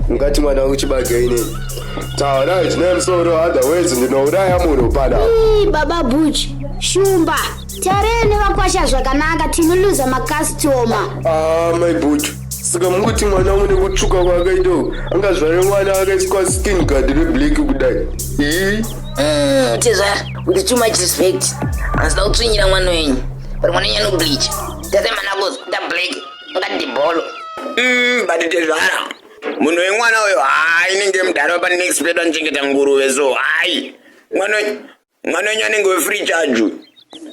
ungati mwana wangu chibage ini taona zvine musoro otherwise ndinouraya munhu pana baba buch shumba tarei nevakwasha zvakanaka tinoluza makastoma ah, mai buch saka mukuti mwana wangu nekutsvuka kwaakaitoo angazvare mwana akaiswa skin gard reblack kudai ii mm, tizvara with too much respect anzida kutsvinyira mwana wenyu uri mwana wenyu anobleacha tese manako da black ngadi bholo mm, but tezvara munhu wemwana uyo hai inenge mudhara wapa next pedo anochengeta nguruve so hai mwana wenyu anenge wefree charge uyu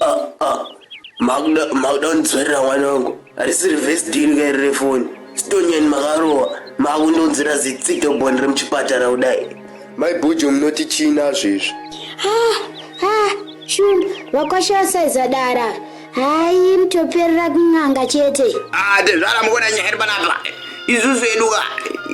uh, uh. makuda kundidzvarira mwana wangu harisi reverse deal kairi refoni sitonyani makarowa makundonzira zitsito boni remuchipatara kudai mai bhujo munoti chii nazvo izvi ah, ah, shundu vakwashasaiza dara hayi mutoperera kun'anga chete ah, tezvara mukona nyaya iri panapa isusu eduka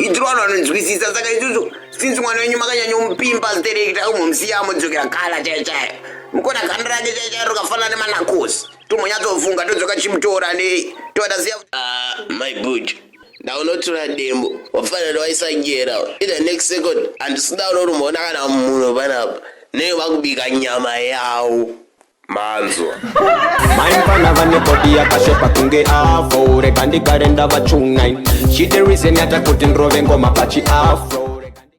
itirwana vanonzwisisa saka isusu since mwana wenyu makanyanyomupimba ziterekita kumomsiya amodzokera kala chaiyo chaiyo mukona ganda rake chaiyo chaiyo rakafanana nemanakosi tomonyatsofunga todzoka chimutora nei toda siya ah, my buch ndaunotura dembo wafanira waisanyera in the next second handisida unorumona kana munhu panapa nei vakubika nyama yawo manzwa Mai mfana vane body yakashepa kunge afro Rega ndigare ndavachungain She the reason yatakuti ndrove ngoma pachi afro